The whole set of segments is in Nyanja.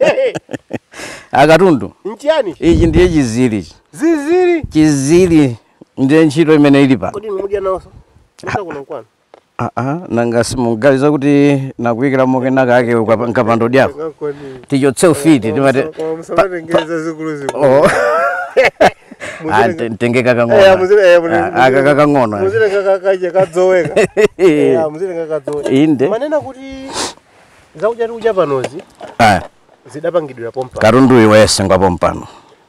Eyi, akatundu nchiyani ichi ndiye chinziri ichi. zinziri chinziri ndiye ntchito imene ili pano kodi inu mudya nawonso musa kuno kwanu Ah, ah, nanga simuganiza kuti nakuyikira mokena kake ukapa- nkapando dyako tichotse ufiti timati musamatengeza zikuluzikulu Oh. Ah, nte- ntengeka kang'ono Ah, aka kakang'ono muzilengakakaje kadzoweka Eh, muzilengakadzoweka inde manena kuti zakudya tikudya panozi ah, zidapangidwira pompano katundu yense yemwe wasengwa pompano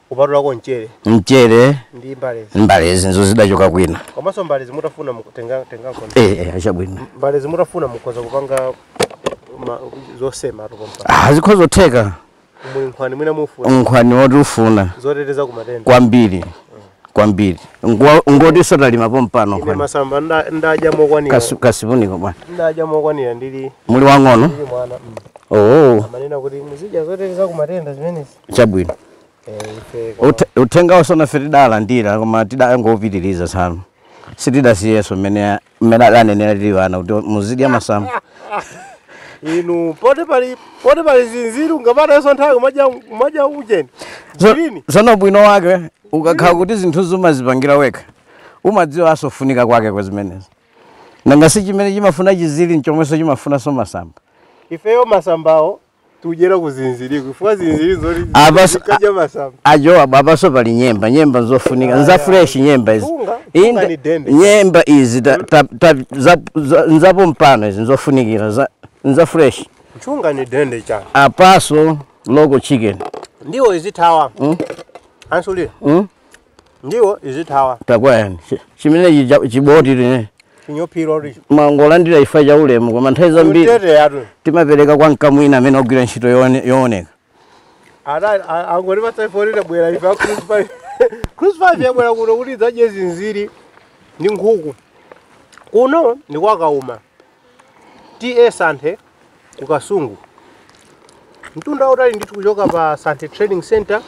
kupatulako mchere mchere ndi mbalezi mbalezi nzo zidachoka kwina komanso mbalezi mutafuna mukutenga- tengako eh, eh, achabwino mbalezi mutafuna mukhoza kupanga ma- zosematu pompano Ah, zikhoza kutheka Muli nkhwani mwina mufuna nkhwani woti ufuna zoteteza ku matenda. kwambiri kwambiri Ngo- ngotinso talima pompano Ine nkhwani masamba nda- ndadya mokwanira. Kasu- kasipuniko bwana Ndadya mokwanira muli muli wang'ono ndili mwana. Mm. oo Amanena kuti muzidya zoteteza ku matenda zimenezi. chabwino Eh, ife koma- Uthe- uthengawo sono ife tidalandira koma tidangopitiriza tsano sitidasiyenso mmene mmene adanenera tili ana kuti muzidya masamba inu poti pali poti pali zinziri ngapata yeso nthawi kumadya kumadya ujeni Zo- zilini zono bwino wake ukakhala kuti zinthu zomazipangira wekha umadziwa asofunika kwake kwa zimenezi nanga si chimene chimafuna chinziri nchomwenso chimafunanso masamba ifeyo masambawo tudyera ku zinziriku chifukwa zinziri zoti Apa- zikadya masamba ajo abo abaso pali nyemba nyemba nzofunika nza fresh nyemba izi Funga- funga Inda- ni dende. nyemba izi ta- ta- ta- za- za- nzapo mpano izi nzofunikira za- nza fresh mchunga ni dende chana apaso local chicken ndiwo izithawa ansulira mm? ndiwo izi tawa takwayani Chi- chimenechi cha- chiboti tine chinyophiro richo mwangolandira chifa cha ulemu koma nthawi zambiri utete yatu timapereka kwa mkamwini amene wagwira ntchito yoone- yooneka angoti pasaifonera bwera ife acrucify crucify abwera kuno kuti adzadye zinziri ndi nkhuku kuno ndi kwa Kauma TA Santhe ku Kasungu. Mtunda wautali ndithu kuchoka pa Santhe Trading Center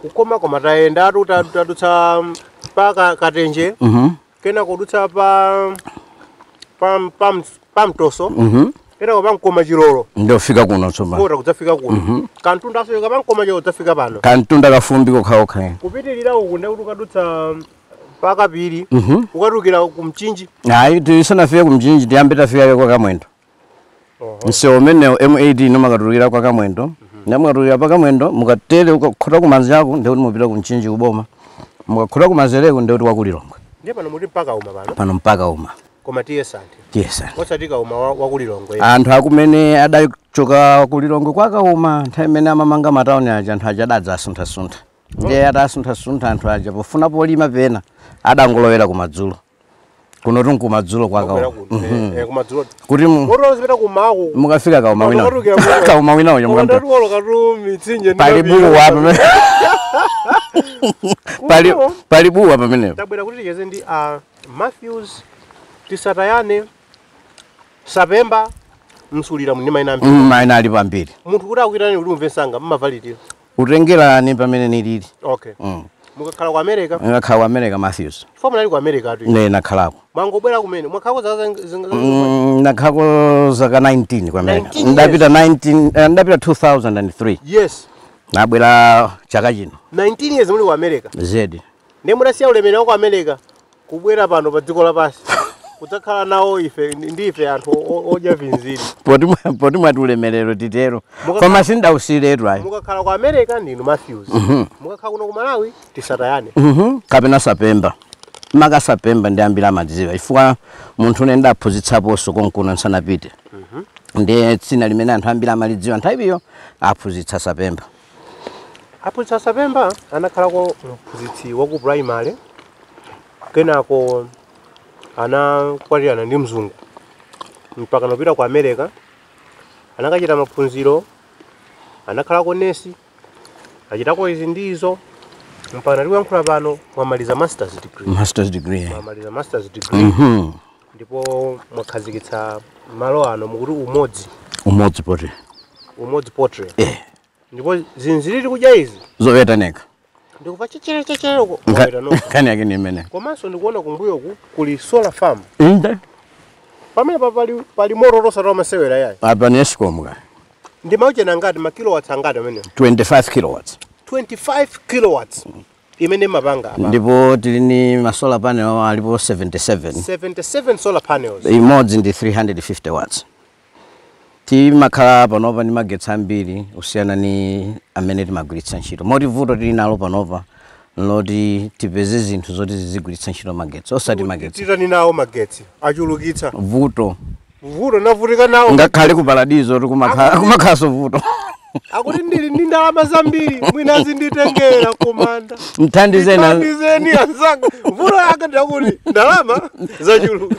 kukoma koma tayendatu ta- tadutsa pa ka- Katenje Mhm. kena kudutsa pa pa pa, pa Mtoso Mhm. kena kwa Mkoma Chilolo Ndikufika kuno tsopano. kota kudzafika kuno kamtunda kuchoka pa Mkoma Chilolo kudzafika pano Kamtunda kafumbi kokhaokha. kupitirira uku ndekuti ukadutsa pakapiri Mhm. ukatulukira ku mchinji ayi tisanafike kumchinji tiyambe tafika kaye kwa kamwendo msewu umenewo M18 mumakatulukira kwa kamwendo mukatulukira pa kamwendo mukatere mukakhota kumanjako ndikuti mupita kumchinji kuboma mukakhota kumanzereko ndikuti wa ku Lilongwe ndiye pano muti mpa Kauma pano pano mpa Kauma koma TA Santhe TA Santhe osati kauma wa- wakulilongwe anthu ake amene adachoka kulilongwe kwakauma nthawi imene amamanga matauni aja anthu aja adadzasuntha-suntha ndiye atasunthasuntha anthu aja pofuna polima pena adangolowera kumadzulo kuno tun kumadzulo kwakawo Mhm. Eh, kumadzulo kuti mu- Kotero zipita kumaku. mukafika kauma wina Mukatulukira kuno. kauma wina uja mukamta Kotero kuolo katu mitsinje ndi pali mapiri. buwa pamenepo pali Kuno. pali buwa pamenepo Tabwera kuti ticheze ndi a Matthews Tisatayane Sapemba Msulira ndi maina ambiri. Mm, maina alipo ambiri Munthu kuti akuitane kuti umve msanga mumavomera. kutengera ni pamene nili okay mm. mukakhala ku america nakhala ku america matthews so munali ku americatu ine nakhalako mwangobwera kumene mwakhalako zaka zing- zing- Mm, nakhalako zaka 19 ku america 19 ndapita 19 eh, ndapita 2003 yes nabwera chaka chino 19 years muli ku america zedi ndiye mudasiya ulemerero wa ku america kubwera pano pa dziko lapansi kudzakhala nawo ife ni ife anthu o- o- odya zinziri poti mwa- poti mwati ulemerero titero Mukakhala- koma sindausiretu ayi mukakhala ku america ndinu matthews mukakhala kuno ku malawi tisatayane Mhm, kapena sapemba maka sapemba ndiye ambiri amadziwa chifukwa munthune ndaphunzitsaponso konkuno nsanapite ndiye dzina limene anthu ambiri amalidziwa nthawi iyo aphunzitsi a sapemba Aphunzitsi a Sapemba anakhalako mphunzitsi wa ku primary kenako anakwatirana ndi mzungu mpaka anapita ku America anakachita maphunziro anakhalako nesi achitako izi ndi izo mpaka tikuyankhula pano mwamaliza masters degree masters degree mwamaliza masters degree Mhm. ndipo mwakhazikitsa malo ano mukuti umodzi umodzi poultry umodzi poultry eh ndipo zinziri tikudya izi zowetatu ndikuva chechelechechele uko Mwaweta nokha. nkhani yake ni imeneyo komanso ndikuona kumbuyoku kuli solar farm inde pamene pa pali, pali mororosa ta masewera yayi apa ni escom ka ndi ma ujeni angati makilowatts angati amene 25 kilowatts 25 kilowatts imene mumapanga apa ndipo tili ni ma solar panel alipo 77 77 solar panels imodzi ndi 350 watts timakhala panopa ndi magetsi ambiri kusiyana ni amene timagwiritsa ntchito moti vuto tili nalo panopa nloti tipeze zinthu zoti zizigwiritsa ntchito magetsi osati magetsi titani nawo magetsi achulukitsa vuto vuto navutika nawo ngakhale ku paradizo kumakhala kumakhalanso vuto akuti ndili ndi ndalama zambiri mwina zinditengera kumanda mthandizeni ndithandizeni anzanga vuto lake ndakuti ndalama zachuluka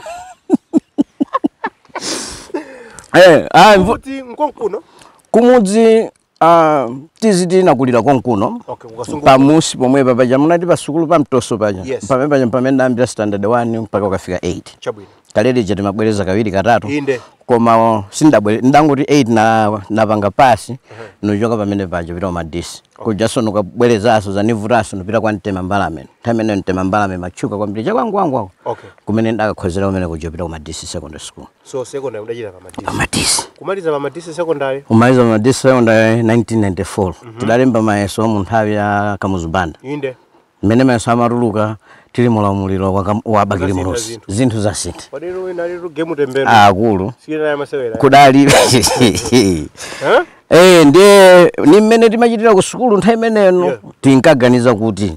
Eh, ah, mvu- kuti nkonkuno kumudzi Ah, ticha tinakulira konkuno Okay, ku Kasungu. pamudzi pomwepa paja munati pasukulu pamtoso paja Yes. pamene paja pamene ndayambira standard 1 mpaka kukafika 8 Chabwino. kalelija timabwereza kawiri katatu Inde. koma sindabwereze ndangoti 8 ndinapanga pasi nuchoka pamene paja pita ku Madisi kujaso nukabwerezaso zinanivutaso nupita kwa mtema mbalame nthawi imene mtema mbalame imatchuka kwambiri chakwangwangwako Okay. kumene ndakakhozera kumene kuja pita ku Madisi secondary school so secondary mudachita pa madisi pamadisi kumaliza pa madisi secondary kumaliza pamadisi secondary 1994 tidalemba mayeso mu nthawi ya kamuzu banda inde mmene mayeso amatuluka tili mu ulamuliro wa Kam- wa bakili Zasintha muluzi zinthu. zinthu zasintha kudali wina alitu game tembenu akulu Chikonaye masewera kudali Eh? Eh, ndiye ni mmene timachitira ku sukulu nthawi imeneyo Yeah. tinkaganiza kuti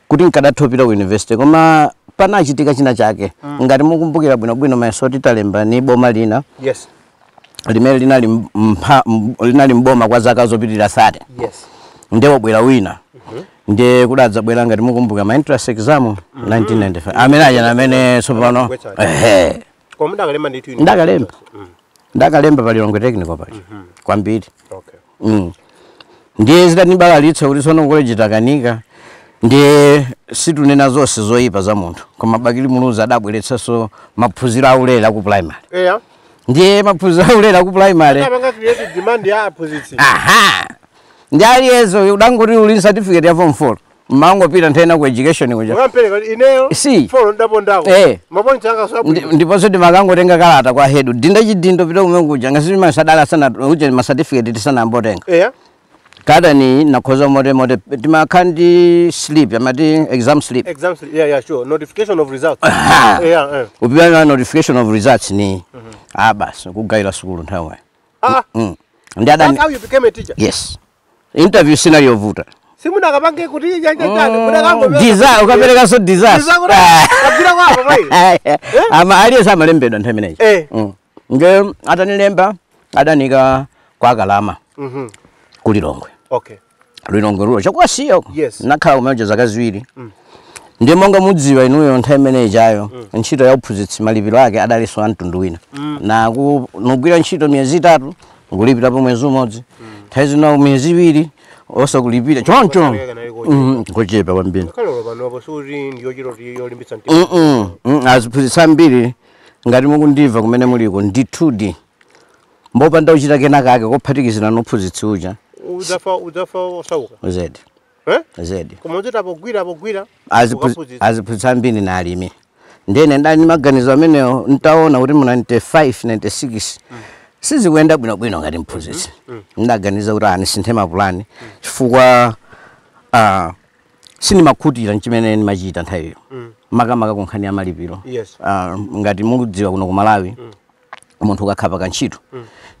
kuti nkadatha kupita ku university koma panachitika china chake ngati mukumbukira bwinobwino mayeso oti talemba ni boma lina yes limene linali m- mpha- m- linali mboma kwa zaka zopitirira 30 yes nde wabwera wina nde kudadzabwera ngati mukumbukira ma entrance exam 1995 amene aja amene tsopano Wetsa. ehe koma ndakalemba ndithu ine ndakalemba ndakalemba pa lilongwe technical paja kwambiri okay mm. ndiye zidandibalalitsa kuti tsono ku koleji takanika ndiye situnena zonse zoyipa za munthu koma bakili muluzi adabweretsanso maphunziro aulere aku primary yeah. ndiye maphunziro aulere aku primary aja ndi aliyense udangoti uli ni certificate ya form 4 umangopita nthawi ina ku education kuja Ukampereka kuti ineyo Si. folo ndapondako. Eh. Mapointi anga Ndi- sabwino. ndiponso timakangotenga kalata kwa hedu dinda chidindo pita kumene kuja ngati ma certificate tisanambotenga Eya. kalata ni nakhoza mote mote timakhala ndi slip amati exam slip Exam slip. Yeah, yeah, sure. Notification of results. Aha. Yeah, yeah. upimana notification of results ni ah basi kugawira sukulu nthawi Ah, ndi that's adani how you became a teacher. yes interview sinali yovuta simunakapange kuti Mm, chachachani desire ukaperekanso desire kabvira kwavo mai ama aliyense amalembedwa nthawi imeneyi Eh. Mm. nde atanilemba adaniika kwa kalama Mhm. ku lilongwe okay lilongwe rural chakuwasiya uko Yes. nakhala kumeneja zaka ziwiri ndiye monga mudziwa inuyo nthawi imene ijayo ntchito ya uphunzitsi malipiro ake adalinso a mtundu wina na ku- nkugwira ntchito miyezi itatu nkulipira pa mwezi umodzi nthawi zina miyezi iwiri osakulipira choncho Kutakhala kanali kochepa. Mhm, kochepa kwambiri kaloro panopo sikuti ndiyochita kuti yolimbitsa mtima Mm-mm. Mm, aziphunzitsi ambiri ngati mukundimva kumene muliko ndithudi mbopanda kuchita kena kake kophatikizana nophunzitsi uja udzafa udzafa osauka zedi Eh? zedi Koma uchita pogwira pogwira. Aziphu- ukaphunzitsa. aziphunzitsa ambiri na alimi ndiye ndinali ndi maganizo amenewo ntaona kuti mu 95 96 sizikuyenda bwinobwino ngati mphunzitsi ndaganiza kuti a nisinthe mapulani chifukwa ah, sindimakhutira nchimene ndimachita nthawiyo makamaka kunkhani ya malipiro Yes. Ah, ngati mukudziwa kuno ku Malawi munthu ukakhala pa kantchito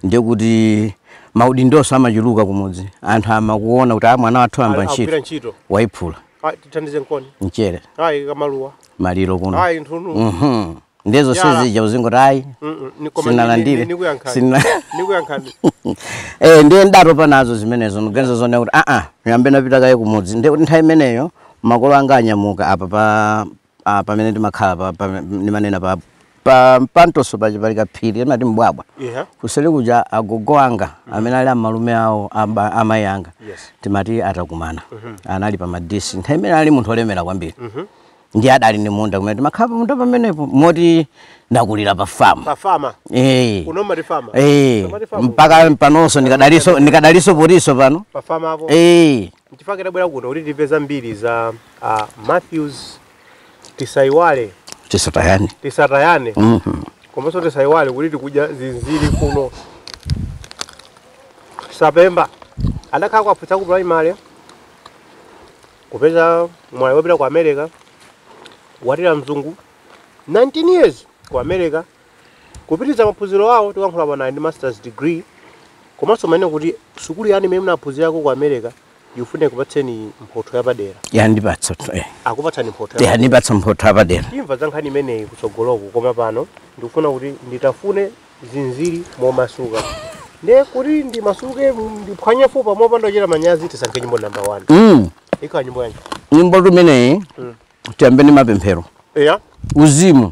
ndiye kuti maudindo amachuluka kumudzi anthu amakuona kuti a mwana wathu wayamba Agwira ntchito ntchito waiphula Ah, tithandize nkoni mchere ayi kamaluwa maliro kuno ayi nthunu Mhm. ndiye zonse Yala. zija uzingoti ayi Mm, mm, ni- koma ni- sinalandire ni- nikuyankhani. Sina- nikuyankhani Eh, ndiye ndatopa nazo zimenezo ndiganiza zonena kuti aa yambe napita kaye kumudzi ndiye kuti nthawi imeneyo makolo anga anyamuka apa pa ah, pamene ndimakhala pa- pa- ndimanena pa pa mpantoso paja pali kaphiri timati mbwabwa Yeah. kuseli kuja agogo anga amene ali amalume awo aba- amayi anga Yes. timati a Takumana anali pa Madisi nthawi imene ali munthu olemera kwambiri ndiye adali ndi munda kumene timakhala pamunda pamenepo moti ndakulira pa famu pa fama Eh. kuno mati fama Eh, Somali farm. mpaka panonso ndikadaliso ndikadaliso potiso pano pa fama apo Eh, Nchifukwa chake tabwera kuno kuti timve zambiri za a Matthews. Tisaiwale, tisatayane tisatayane Mhm. komanso tisaiwale kuti tikudya zinziri kuno Sapemba adakhala Kwaputsa ku primary kupeza mwayi wopita ku America watira mzungu 19 years ku America Kupitiliza maphunziro awo tikuyankhula pano ali ndi Masters degree komanso mumanena kuti sukulu yanu imene munaphunzirako ku America ikufuna ikupatseni mphotho yapadera. Yandipatsatu eh. Akupatsani mphotho yapadera. Yandipatsa mphotho yapadera. Timva za nkhani imeneyi kutsogoloku koma pano ndikufuna kuti nditafune zinziri momasuka. Ndiye kuti ndimasuke ndiphwanye fupa mopanda kuchita manyazi tisankhe nyimbo number 1. Mm. Ikhala nyimbo yanji? Nyimbo imeneyi Mm. tiyambe ndi mapemphero. Eya. Uzimu.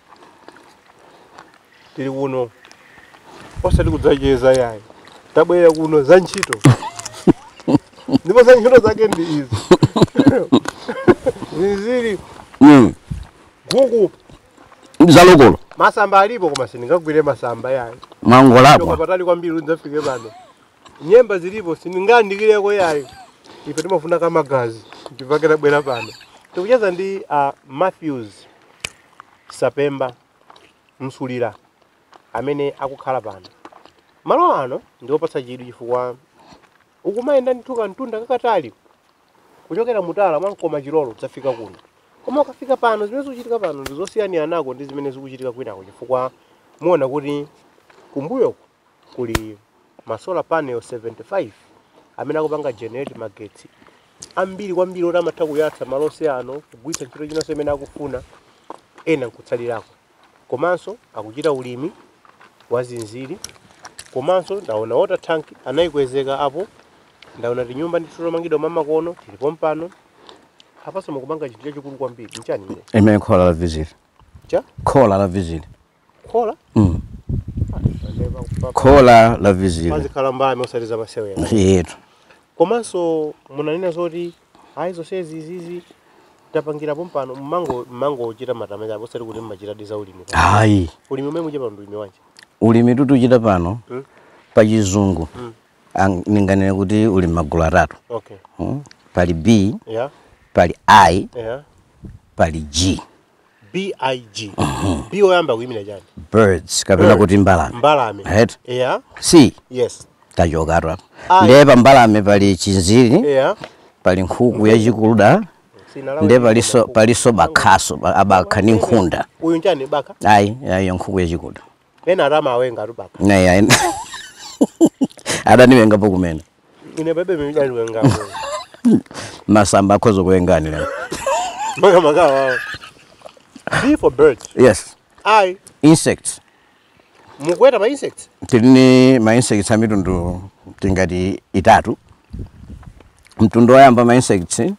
tili kuno osati kudzacheza yayi tabwera kuno za ntchito ndipo za ntchito zake ndi izi zinziri Mm. nkhuku Zalokolo. masamba alipo koma sindingagwire masamba yayi kuchoka Mwangolapwa. patali kwambiri kudzafika pano nyemba zilipo sindingandikireko yayi ife timafuna kamagazi ndipake tabwera pano tikucheza ndi uh, Matthews Sapemba, Msulira amene akukhala pano. Malo ano ndi opatsa chidwi chifukwa ukumayenda ndithu kamtunda kakatali kuchokera mutala mwa Mkomachilolo kudzafika kuno. Koma ukafika pano zimene zikuchitika pano ndi zosiyaniranako ndi zimene zikuchitika kwinako chifukwa muona kuti kumbuyoku kuli ma solar panel 75 amene akupanga generate magetsi ambiri kwambiri oti amatha kuyatsa malo onse ano kugwiritsa ntchito inanso imene akufuna ena nkutsalirako komanso akuchita ulimi wa zinziri komanso ndaona water tank anayikwezeka apo ndaona tinyumba ndithu tomangidwa mwamakono tili pompano apanso mukupanga chinthu chachikulu kwambiri nchani chimene Khola la zinziri. Cha? Khola la zinziri. khola Mm. khola la zinziri pazikhala mbali osati za masewera yetu komanso munanena zoti ayi zonsezi izi tapangira pompano mmango mmango ochita matama chapo osati kuti mmachita za ulimi ayi ulimi umene muchita pano ulimi wanji ulimi tikuchita pano Mm. pa chizungu Mm. ang- ninganene kuti uli magulu atatu okay Mm. pali b yeah pali i yeah pali g BIG. B oyamba kuyimira chani? Birds kapena Birds. kuti mbalame. Mbalame. Right? Yeah. I Yes. tachokatu apa. Ayi. Ndiye pa mbalame pali chinziri, Yeah. pali nkhuku yachikuda, Sinalawa. ndiye palinso palinso bakhaso, pa- abakha ndi nkhunda. Uyu nchani bakha? Ayi, ayi nkhuku yachikuda. ena atama awenga atupaka Naya en. Adaniwengapo kumene. ine bebe mimidani wenga Masamba akhoza kuwengani. makamaka wawo b for birds Yes. i Insects. mukuweta ma insects Tili ni ma insects a mitundu tingati itatu. Mtundu woyamba ma insects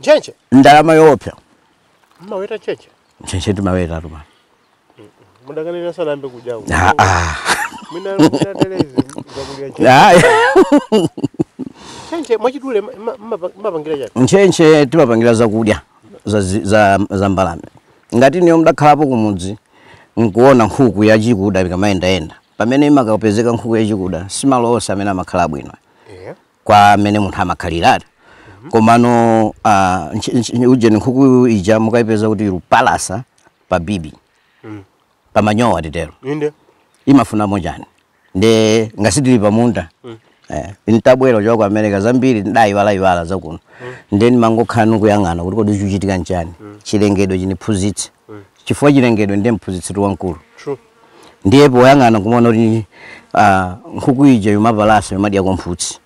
ntchentche ndalama yoopsa mmaweta ntchentche ntchentche timaweta koma mudakanena sanayambe kudyako Ah, ah. mwina mwina therezi zakudya ntchentche Ayi. ntchentche mwachidule ma- ma- mma- mmapangira chani ntchentche timapangira zakudya za, zi- za, za mbalame ngati ineyo ndakhalapo kumudzi nkuona nkhuku yachikuda ikamayendayenda pamene imakapezeka nkhuku yachikuda simalo onse amene amakhala bwino yeah. kwa amene munthu amakhalira komano ah, nchi- nchi- ujeni nkhuku ija mukayipeza kuti ikupalasa pa bibi Mm. pa manyowa titero inde imafuna chani nde ngati tili pamunda eh, ntabwera kuchoka ku america zambiri ndayiwalayiwala zakuno nde ndimangokhala nkuyang'ana kuti kodi chikuchitika nchani chilengedwe chindiphunzitse chifukwa chilengedwe ndi mphunzitsi wamkulu true ndiye poyang'ana kumaona kuti ah, nkhuku ija yomapalasa yomadyako mphutsi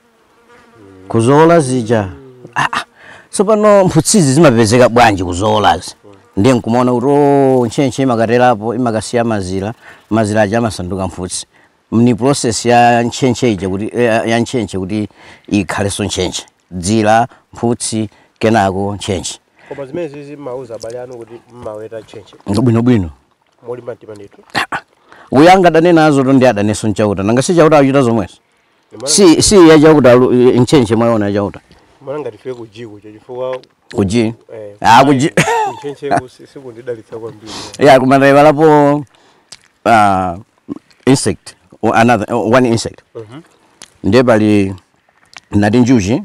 kuzola zija ah, ah, tsopano mphutsizi zimapezeka bwanji kuzolazi ndiye nkumaona kuti o ntchentche imakaterapo imakasiya mazira mazira aja amasanduka mphutsi ni process ya ntchentche ija kuti eh, ya ntchentche kuti ikhalenso ntchentche dzira mphutsi kenako ntchentche koma zimenezizi mmauza abale anu kuti mmaweta ntchentche bwinobwino molimba mtima ndithu uyo angadane nazo zoto ndi adanenso mchauta nanga si chauta akuchita zomwezo si si ya chauta alu- i- ntchentche mwaona ya chauta mwana ngati iwe kujiku cho chifukwa kuji eh, Ah, kuji- kuntchentcheku si- sikundidalitsa kwambiri ya kumadaiva lapo uh, insect o- another o- one insect Mhm. ndiye pali nati njuchi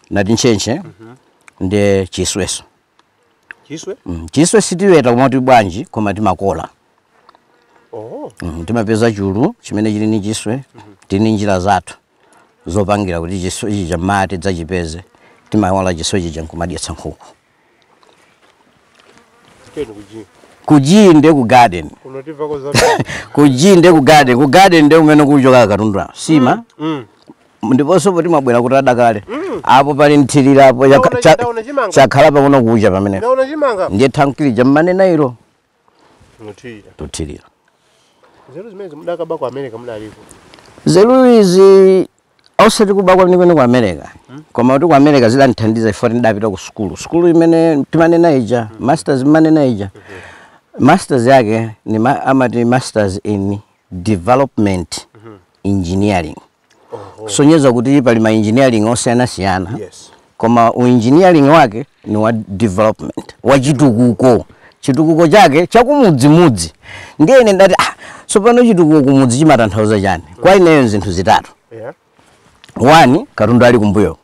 nati ntchentche ndi chiswenso chiswe Mm, chiswe sitiweta koma kuti bwanji koma timawola oh mm, timapeza chulu chimene chili ni chiswe tili ni njira zathu zopangira kuti chiswe chija mati dzachipeze timawola chiswe chija nkumadyetsa nkhuku teni kuji kujii nde ku garden unotivako za kujii nde ku garden ku garden nde kumene kuchokera katundu sima mm ndiponso poti mwabwera kuti adakale mm. apo pali mthirira apo chakhala paona kucha pamene ndiye thankili ja mmanena ilo tuthirira nzeru izi osati kuba kwenikweni ku america hmm? koma kuti ku america zidandithandiza chifukwa tidapita ku sukulu sukulu imene timanena ija hmm. masters imene nanena ija hmm. masters yake ni ma, amati masters in development engineering kusonyeza kuti pali ma engineering osiyanasiyana Yes. koma u engineering wake ni wa development wa chitukuko chitukuko chake chakumudzimudzi ndiye ine ndati ah, tsopano chitukuko kumudzi chimatanthauza chani kwa ineyo zinthu zitatu Yeah. wani katundu ali kumbuyo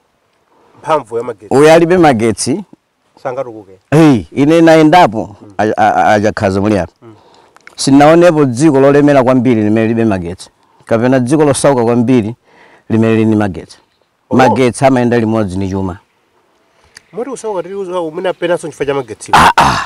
Mphamvu ya magetsi. uyu alibe magetsi sangatukuke hey, ine nayendapo a Chakhaza muli apa mm. sinaonepo dziko lolemera kwambiri limene lilibe magetsi kapena dziko losauka kwambiri limene lili ni magetsi oh. magetsi amayenda limodzi ni chuma moti usauka tili usauka umene penanso chifukwa cha magetsi ah, ah.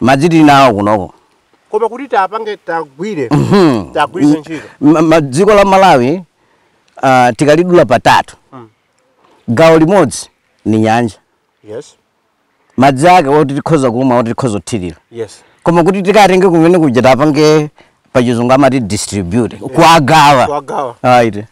Madzi tili nawo kunoko. Koma kuti tapange tagwire Mhm. tagwiritse M- ntchito. ma- ma- dziko la malawi ah, tikalidula patatu Mm. gawo limodzi ni nyanja Yes. madzi ake oti tikhoza kumwa oti tikhoza kuthirira Yes. koma kuti tikatenge kumene kuja tapange pachizungu amati distribute kuagawa Kuagawa. aite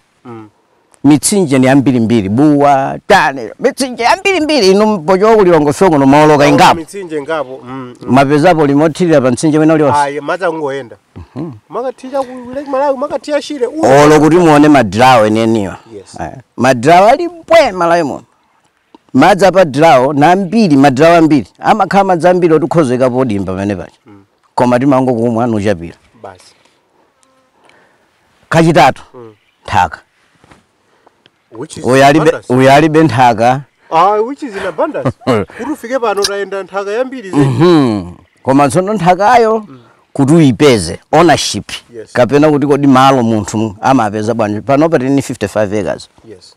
mitsinje ni yambirimbiri Bua tanena mitsinje yambirimbiri inu mpochoka ku Lilongwe kuno mumawoloka ingapo mitsinje ingapo mm. mumapezapo ulimi wothirira pa mtsinje wina ulionse ayi madzi akungoyenda nkumakathira ku lake malawi nkumakathira shire uyu. olo kuti muone madirawo enieniwa Yes. Eh, madirawo ali mbwe malawi muno madzi apa madirawo ni ambiri madirawo ambiri amakhala madzi ambiri oti nkhozekapo dimba pamene paja koma timangokumwa nuchapira basi kachitatu Mm. nthaka Which is uyu alibe- abundance. uyu alibe nthaka Ah, which is in abundance. Kuti ufike pano tayenda nthaka yambiri zedi. Mhm. koma tsono nthakayo kuti uyipeze ownership Yes. kapena kuti kodi malo munthu amapeza bwanji panopa tini 55 acres Yes.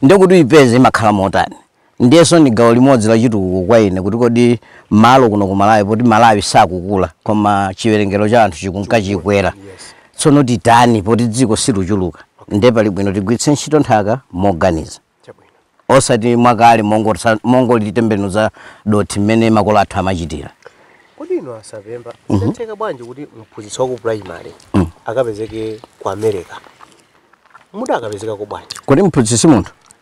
nde kuti uyipeze imakhala motani Ndiyenso ndi gawo limodzi la chitukuko kwa ine kuti kodi malo kuno ku Malawi poti Malawi sakukula koma chiwerengero cha anthu chikunka chikwera tsono titani poti dziko siluchuluka nde pali bwino tigwiritse ntchito nthaka moganiza osati mwakale mongolitembenuza dothi mmene makolo athu amachitira. Kodi inu a November zidatheka bwanji kuti mphunzitsi wa ku primary akapezeke ku America? Mudakapezekako bwanji? Kodi mphunzitsi si munthu?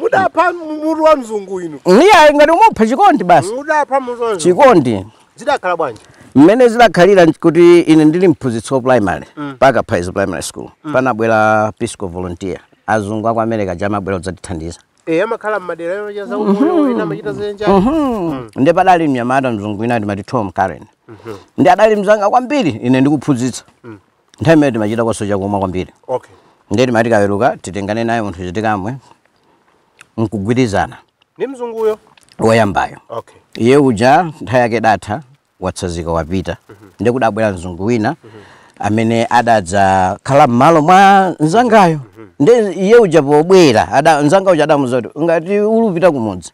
Mudapha mutu wa mzungu inu. Iyayi ngati nkupha chikondi basi. Mudapha mutu wa mzungu. Chikondi. Zidakhala bwanji? Mmene zidakhalira kuti ine ndili mphunzitsi wa primary mm. pa Kaphaizi primary school mm. panabwera Peace Corps volunteer azungu aku America aja amabwera kudzatithandiza Eh, amakhala mmadera ena cha zaumoyo mm-hmm. wina amachita zenja. Mm-hmm. Mm. Ndiye padali mnyamata mzungu wina timati Tom Karen. Mm-hmm. Ndiye adali mzanga kwambiri ine ndikuphunzitsa. Mm. nthawi imene timachita kaso chakumwa kwambiri okay ndiye timati tikaweruka titengane naye tipite tikamwe nkugwirizana ni mzunguyo woyambayo okay iye uja nthawi yake yatha watsazika wapita ndiye kudabwera mzungu wina amene adadzakhala m'malo mwa nzangayo ndiye uja pobwera ada- nzanga uja adamuza kuti ngati ulupita kumudzi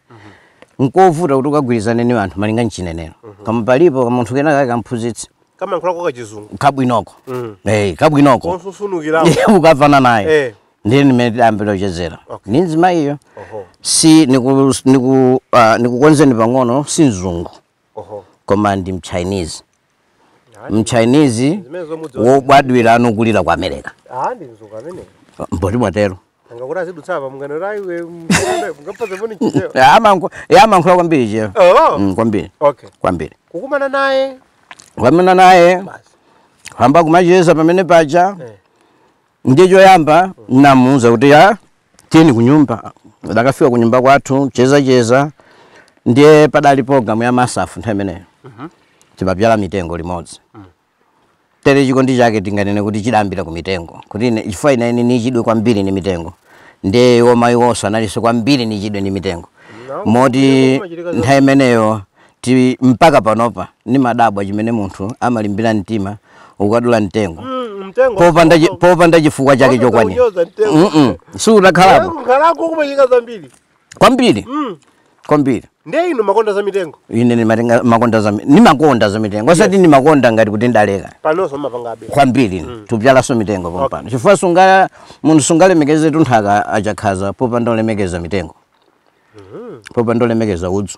nkovuta kuti ukagwirizane ni anthu malinga nchinenero koma palipo kamunthu kena kake kamphunzitsi kamayankhulako kachizungu kabwinoko Mm. Eh, kabwinoko konsunsunukirako Iye ukafunane naye Eh. ndiye ndi mmene tidayambira kuchezera Okay. ndi mzimayiyo oho si niku, niku, uh, nikukonzeni pang'ono si mzungu oho koma ndi mchinese Ayi, mchinese Zimene zomudziwa. wobadwira nkukulira ku america ah ndi mzungu amene poti mwatero Nanga kuti azidutsa apa mungano la iwe mungano mungapata moni cheo. Ya amayankhula amayankhula kwambiri cheo. Oh. Mm, kwambiri. Okay. Kwambiri. Kukumana naye. Kukumana naye. Basi. Tayamba kumacheza pamene paja. Eh. Ndiye choyamba mm. ndamuuza kuti ya tieni kunyumba. Ndakafika kunyumba kwathu cheza cheza. Ndiye padali program ya MASAF nthawi imeneyo. Mhm. Mm Timabzala mitengo limodzi. Mm. tere chikondi chake tinganene kuti chidayambira ku mitengo kuti ine chifukwa ine ine nichidwe kwambiri ndi mitengo ndiye iwo mayiwonso analinso kwambiri nichidwe ndi mitengo Naam, moti ndiye kumachitika za- nthawi imeneyo ti mpaka panopa nimadabwa chimene munthu amalimbira mtima kukadula mtengo Mm, mtengo popanda chi- popanda chifukwa chake Popanda chokwanira kunyoza mtengo. Mm-mm. si utakhalako Kunkhalako kumachitika zambiri kwambiri mm. kwambiri ndiye inu makonda za mitengo ine ndimakonda za mi- ndimakonda za mitengo osati nimakonda ngati kuti ndaleka panonso mmapangabe kwambiri mm. tupyalanso mitengo pompano chifukwa sunga munthu sungalemekeze tunthaka achakhaza popanda olemekeza mitengo popanda kulemekeza udzu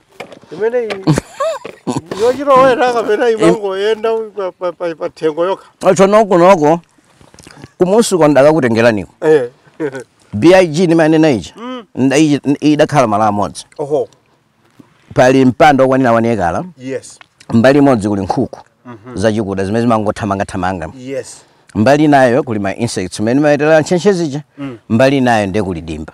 imeneyi yochilowera kapena imangoyenda pathengo yokha atsho konko kumudziko ndakakutengeraniko Eh, big ndimanena ichi Mm. nda- ichi- zidakhala malo amodzi oho pali mpanda wokwanira one acre yes mbali imodzi kuli nkhuku zachikuda zimene zimangothamangathamanga yes mbali nayo kuli ma insects imene imadyera ntchentche zija mbali nayo ndiye kuli dimba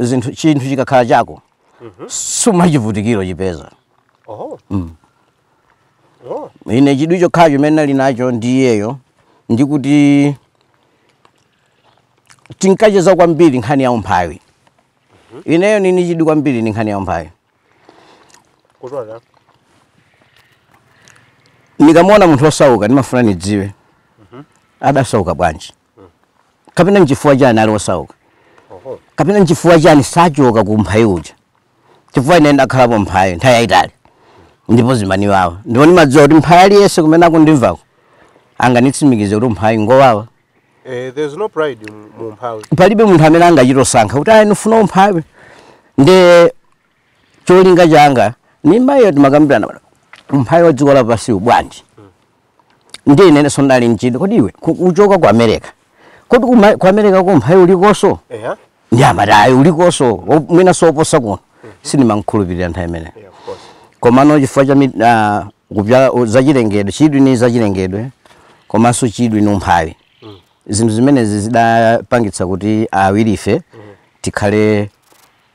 zinthu chinthu chikakhala chako sumachivutikira uchipeza Oho. Oh. ine chidwi chokhala chimene ndinali nacho ndi iyeyo ndikuti tinkacheza kwambiri nkhani ya umphawi ineyo ndili ndi chidwi kwambiri ndi nkhani ya umphawi Kutola. ndikamaona munthu wosauka ndimafuna ndidziwe adasauka bwanji kapena nchifukwa chani ali wosauka kapena nchifukwa chani sachoka ku umphawi uja chifukwa ine ndakhalapo mphawi nthawi yayitali ndipo zimaniwawa ndipo ndimadziwa kuti mphawi aliyense kumene akundimvako anganitsimikize kuti umphawi ngowawa Eh, there's no pride mu umphawi palibe munthu amene angachite kusankha kuti ayi ndifuna umphawi nde cholinga changa ni iyeyo timakambirana pano umphawi wa dziko lapansi uli bwanji ndi ine ndinso ndinali nchidwi kodi iwe ku- uchoka ku america kodi kuma- ku america ko umphawi ulikonso Eya. nde amati ayi ulikonso wo- mwina soposa kuno sindimamukhulupirira nthawi imeneyo Yeah, of course. komano chifukwa cha mit- ah, kupyala u- zachilengedwe chidwi ni zachilengedwe komanso chidwi ni umphawi zinthu zimenezi zidapangitsa kuti awirife tikhale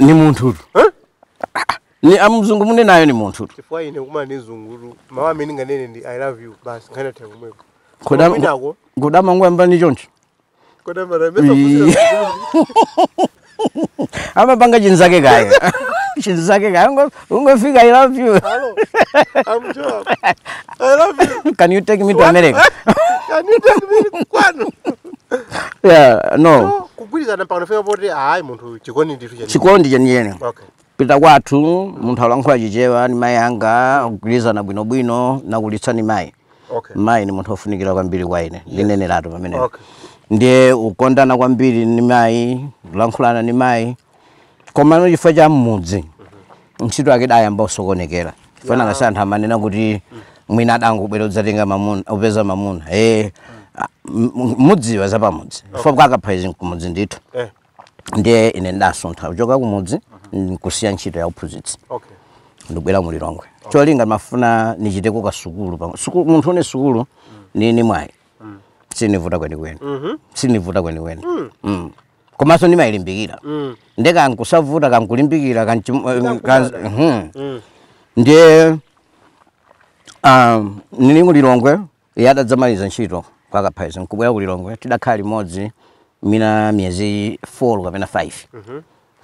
ni munthu Eh? ni amzungu muli nawo ni munthu chifukwa ine kumana ndi mzungu mawu amene nganene ndi i love you basi nkhani yatha komweko Kudam- kwinako kudamangoyamba ni choncho Ii. amapanga chinzake kaya chinzake kaya ngo- Kungofika I love you. Hello. I'm Joab. I love you. Can you take me to America? Can you take me kwanu? Yeah, no. No, kugwirizana mpaka tinafika poti ayi munthu chikondi ndithu cheni. Chikondi chenicheni. Okay. kupita kwathu munthu alankhula chichewa ni mayi anga kugwirizana bwinobwino nakulitsa ni mayi Okay. mayi ndi munthu ofunikira kwambiri kwa ine ndineneratu pamenepo Okay. ndiye kukondana kwambiri ndi mayi kulankhulana ndi mayi komano chifukwa cha mmudzi ntchito yake idayamba kusokonekera chifukwa nanga si anthu amanena kuti mwina adangobwera udzatenga mamuna upeza mamuna e mmadziwa za pamudzi chifukwa kwa Kaphaizi nkumudzi ndithu Eh. ndiye ine ndasuntha kuchoka kumudzi nkusiya ntchito ya uphunzitsi okay ndibwera mu lilongwe cholinga ndimafuna ndichiteko sukulu pamwe Suku- munthu ine sukulu ndi ndi mwayi siyinivuta kwenikweni siyinivuta kwenikweni Mm. komanso ndimailimbikira nde kankusavuta kankulimbikira kanchim- kan- mhm. ndiye um, nili mu lilongwe Iye atadzamaliza ntchito kwa Kaphaizi nkubwera ku Lilongwe, tidakhala limodzi mwina miyezi 4 kapena 5.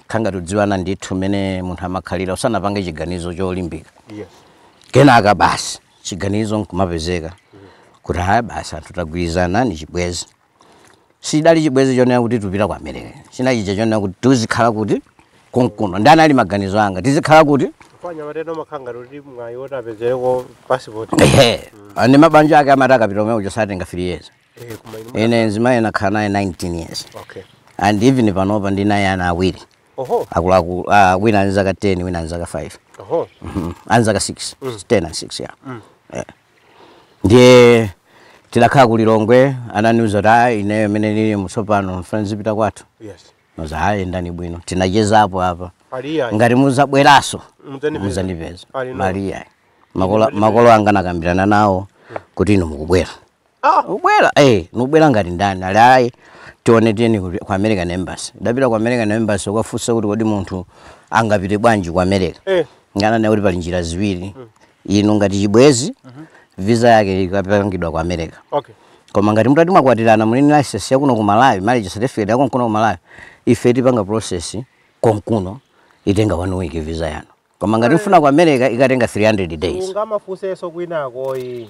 Kukhala ngati kudziwana ndithu mmene munthu amakhalira usanapange chiganizo cholimbika. Kenaka basi chiganizo nkumapezeka kuti ah basi anthu tagwirizana ndi chibwenzi. Sichidali chibwezi chonena kuti tipita ku America. Chinali chija chonena kuti tizikhala kuti konkuno. Ndi anali maganizo anga. Tizikhala kuti? Chifukwa anyamata ena amakhala ngati kuti mwayi woti apezereko passport. Ehe. Mm. Ndi mabanja ake amati akapita kumene kuja satenga 3 years. Eh, koma inu. Ine nzimayi nakhala naye 19 years. Okay. And even panopa ndi naye ana awiri. Oho. Akuluakulu, ah, wina ali nzaka 10, wina ali nzaka 5. Oho. Mm -hmm. Ali nzaka 6. Mm. 10 and 6, yeah. Mm. Yeah. ndiye tidakhala ku lilongwe ananiuza kuti a ineyo mmene nili tsopano mfuna ndizipita kwathu yes nuza a yendani bwino tinachezapo apa aliya ngati muzabwerenso Mudzandipeza. muzandipeza Ali no. aliya makolo makolo anga nakambirana nawo kuti inu mukubwera ah ubwera eh nubwera ngati ndani ali ayi tione tiyeni ku ku american embassy ndapita ku american embassy kukafunsa kuti kodi munthu angapite bwanji ku america eh ngana naye kuti pali njira ziwiri inu ngati chibwezi visa yake ikapangidwa ku america okay koma ngati mutati mwakwatirana muli ndi license yakuno ku malawi marriage certificate ya konkuno ku malawi ife tipanga process konkuno itenga one week visa yanu koma ngati mfuna ku america ikatenga 300 days ungamafunsenso kwinako ayi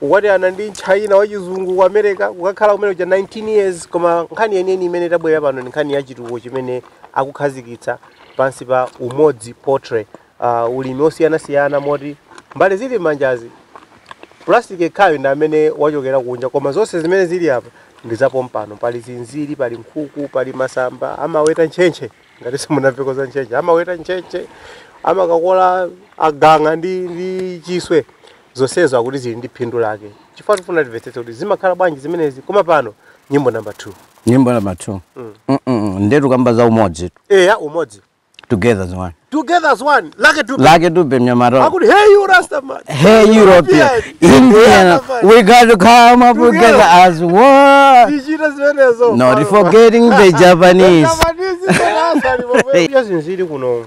Kukwatirana ndi mtchana wachizungu ku America, kukakhala kumene kuja 19 years, koma nkhani yeniyeni imene tabwerera pano ndi nkhani ya chitukuko chimene akukhazikitsa pansi pa Umodzi Poultry. Uh, ulimi osiyanasiyana moti mbale zili m'manjazi plastic ekhayo ndi amene wachokera kunja koma zonse zimene zili apa ndi zapompano pali zinziri pali nkhuku pali masamba amaweta ntchentche ngati simunamveko za ntchentche amaweta ntchentche amakakola agang'a ndi, ndi chiswe zonsezo akuti zili ndi phindu lake chifukwa tifuna timvetsetse kuti zimakhala bwanji zimenezi koma pano nyimbo namba 2 nyimbo namba 2 mm. mm -mm. nde tukamba za umodzi tu eya umodzi together as one together as one Lucky Du Lucky Dube mnyamaro akuti hey you rasta man hey european indian we got to come up together as one digital zimenezo not forgetting the japanese japanese zimenezo yes ndili kuno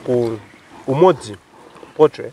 ku umodzi poultry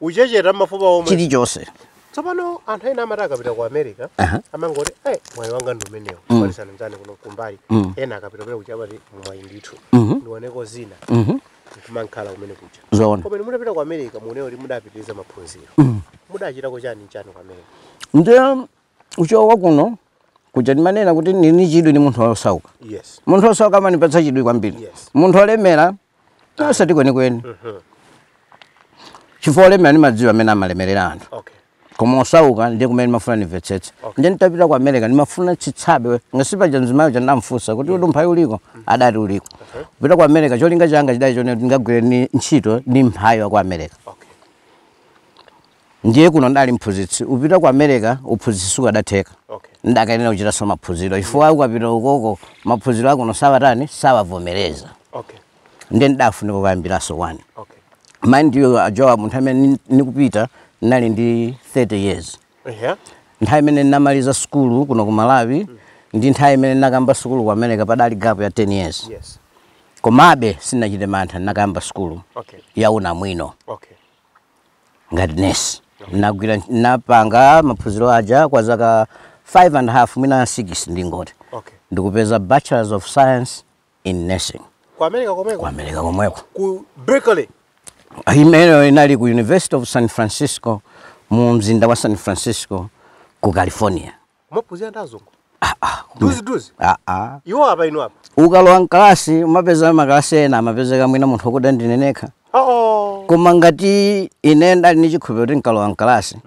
uchecheta mafupa omwe chilichonse tsopano anthu ena amangoti akapita ku america Aha. amangoti eh mwayi wanga ndi umenewo kupatsana mzani kuno kumbali Mm. ena akapita kumene kuja amati mwayi ndithu Mhm. ndioneko zina Mhm. nkumankhala kumene kuja zoona koma inu mutapita ku america munena kuti mudapitiriza maphunziro mudachitako chani chani ku america nde uchoka kuno kuja ndimanena kuti ndili ni chidwi ndi munthu wosauka yes munthu wosauka amanipatsa chidwi kwambiri Yes. munthu wolemera osati kwenikweni chifukwa olemera ndimadziwa amene amalemerera anthu okay koma osauka ndiye kumene ndimafuna ndimvetsetse ndiye nditapita ku america ndimafuna chitsanzo ngati paja mzimayi uja ndamfunsa kuti kodi umphawi uliko adati uliko kupita ku america cholinga changa chidali choti ndikagwire ntchito ndi mphawi wa ku america okay ndiye kuno ndali mphunzitsi upita ku america uphunzitsi sukadatheka Okay. ndakayenera kuchitanso maphunziro chifukwa ukapita ukoko maphunziro akuno sawatani sawavomereza Okay. ndiye ndidafunika kukayambiranso wani Okay. mind you ujowa munthu amene ni- nikupita nali ndi 30 years Yeah. nthawi imene ndinamaliza sukulu kuno ku malawi ndi nthawi imene ndinakayamba sukulu ku america padali gap ya 10 years Yes. komabe sindinachite mantha ndinakayamba sukulu Okay. ya unamwino Okay. ngati nesi nagwira napanga maphunziro aja kwa zaka 5 and half mwina 6 ndingoti Okay. nkupeza bachelors of science in nursing Ku America komweko. ku america komweko Ku Berkeley. imeneyo inali ku university of san francisco mu mzinda wa san francisco ku california Umaphunzira ndi azungu? Duzi duzi. Ah ah. Iwo apa inu apa. Ukalowa mkalasi umapeza makalasi ena amapezeka mwina munthu okuda ndine nekha. Oh. Koma ngati ine ndali ni chikhulupiriro kuti nkalowa mkalasi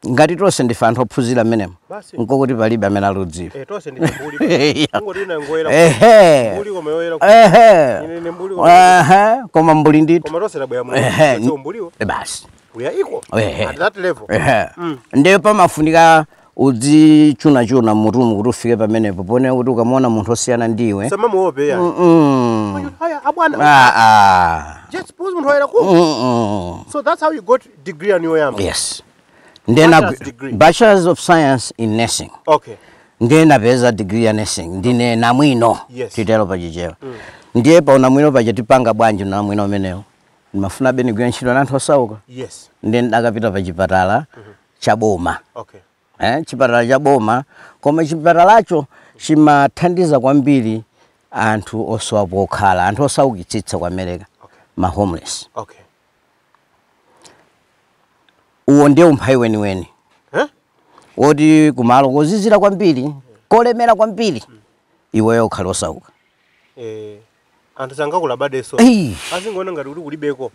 ngati tonse ndife anthu ophunzira mmenemo Basi. nkokuti palibe amene alikudziwa. Eh tonse ndi mbuli. Iya. Kungoti ina ngoyera. Ehe. Mbuli koma yoyera. Ehe. Ine ni mbuli koma. Ehe. Koma mbuli ndithu. Koma tonse tabwera umu. Ehe. Sio mbuliwo. Eh, Basi. We are equal. Ehe. At that level. Ehe. Ndiye pamafunika udzichunachuna mmutumu kuti ufike pamenepo ponena kuti ukamuona munthu osiyana ndi iwe usamamuope ayi Mm-mm. kaya abwana Ah, ah. just because munthu ayera ku Mm-mm. so that's how I got degree yanga yoyamba yes ndiye na- Bachelor's degree. bachelors of science in nursing okay ndiye napeza degree ya nursing ndine namwino Yes. titero pachichewa ndiye pa unamwino paja tipanga bwanji unamwino umenewo ndimafuna be nigwire ntchito na anthu osauka yes ndiye ndidakapita pa chipatala cha boma okay. Eh, chipatala cha boma koma chipatalacho chimathandiza kwambiri anthu osowa pokhala anthu osaukitsitsa ku america okay. ma homeless okay. uwo ndiye umphawi weniweni eh? woti kumalo kozizira kwambiri kolemera kwambiri mm. iweyo ukhale osauka eh. anthu sangakulabadirenso Ei. azingoona ngati kuti kulibeko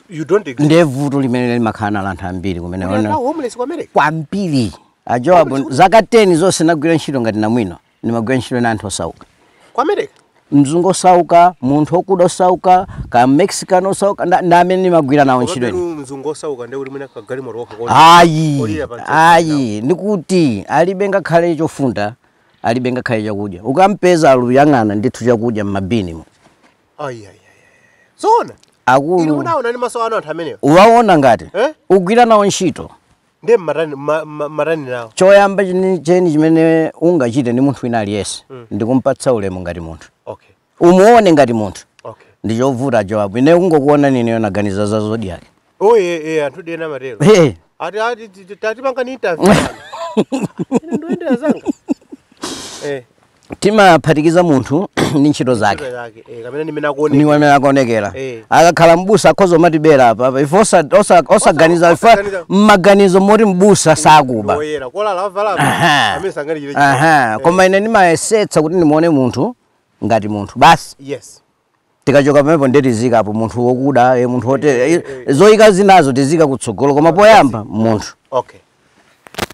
you don't exist ndiye vuto limene limakhala nawo anthu ambiri kumene Kuli ona- anthu homeless kwa America kwambiri a Joabu zaka 10 zonse nagwira ntchito ngati namwino ndimagwira ntchito na anthu osauka kwa America mzungu osauka munthu okuda osauka ka mexican osauka nda- ndi amene ndimagwira nawo ntchito ino Komabenu mzungu osauka ndiye kuti mwina kagalimoto wako kodi ayi Olira pa ntchito ayi ndikuti alibe ngakhale chofunda alibe ngakhale chakudya ukampeza akuyang'ana ndithu chakudya m'mabini mu zoona akulu munaona ni maso anu anthu amenewo mukawaona ngati eh? ugwira nawo ntchito ndiye mumatani ma, ma, matani nawo choyamba cheni cheni chimene ungachite ndi munthu wina aliyense mm. ndikumpatsa ulemu ngati munthu okay. umuone ngati munthu Okay. ndi chovuta Joabu ine kungokuona ineyo naganiza za Zodiak Oh eh eh anthu dena matero. Eh, Ati ati ti- ti- atatipanga ni interview. Ine ndoendera zanga. Eh. timaphatikiza munthu ndi ntchito zake career yake. Eh kapena nimena kuone. niwe amene akuonekera Eh. akakhala mbusa akhoza kumatibera apa apa. ife osa- osa- osaganiza ife osaganiza. mmaganizo moti mbusa sakuba Ndi oyera. Kolala avala. Aha. Amene sangani chile. Aha, koma ine ndimayesetsa kuti ndimuone munthu ngati munthu basi yes tikachoka pamenepo nde tiziikapo munthu wokuda eh, munthu woyera eh, eh, zoyika zinazo tiziika kutsogolo koma poyamba munthu okay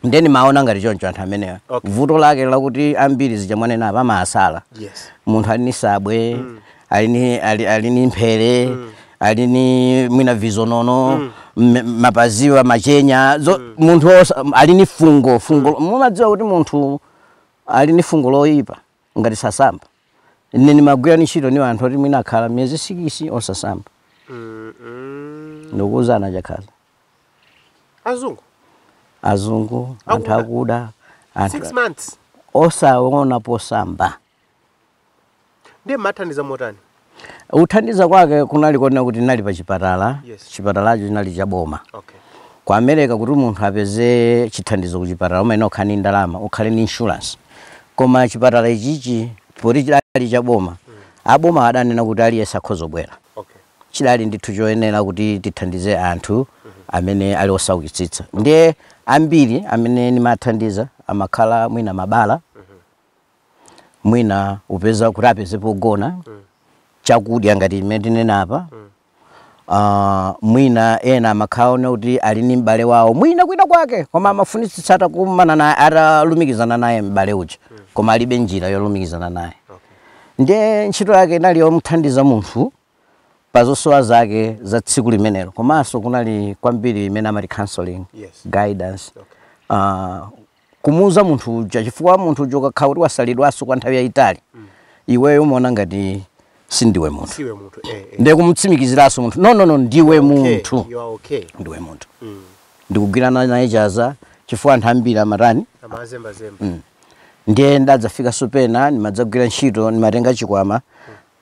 nde nimaona ngati choncho anthu amenewo Okay. vuto lake lakuti ambiri zija mwanena apa amasala yes munthu ali ni sabwe ali ni ali, ali ni mphere ali ni mwina vizilonda m- mapaziwa matekenya zo, munthu osa, ali ni fungo fungo mumadziwa kuti munthu ali ni fungo loyipa ngati sasamba ine ndimagwira ni ntchito ni anthu oti mwina akhala miyezi sikisi osasamba Mm, mm. ndikuuzani akakhala azungu azungu anthu Akuda. akuda six months osaona posamba ndiye mumathandiza motani Kuthandiza kwake kunali konena kuti ndinali pa chipatala, Yes. chipatalacho chinali cha boma. Okay. Ku America kuti munthu apeze chithandizo ku chipatala umayenera kukhala ndi ndalama, ukhale ndi insurance. Koma chipatala ichichi poti chidali cha boma, aboma adanena kuti aliyense akhoza kubwera. Okay. chidali ndithu choyenera kuti tithandize anthu amene ali osaukitsitsa ndiye ambiri amene ndimathandiza amakhala mwina mabala mwina kupeza kuti apeze pogona chakudya ngati mmene tinena apa Ah, mwina ena amakhala kunena kuti ali ni m'bale wawo mwina kwina kwake koma amafunitsitsa atakumana naye atalumikizana naye m'bale uja koma alibe njira yolumikizana naye ndiye ntchito yake inali yomthandiza munthu pa zosowa zake za tsiku limenelo komanso kunali kwambiri imene amati counseling Yes. guidance Okay. uh, kumuuza munthu uja chifukwa munthu uja ukakhala kuti wasalidwanso kwa nthawi yayitali iweyo umaona ngati si ndiwe munthu siwe munthu eh, eh. ndiye kumutsimikiziranso munthu no no no ndiwe Okay, munthu you are okay ndiwe munthu Mm. ndi kugwirana naye chanza chifukwa anthu ambiri amatani amazembazemba ndiye ndadzafikanso pena ndimadzagwira ntchito ndimatenga chikwama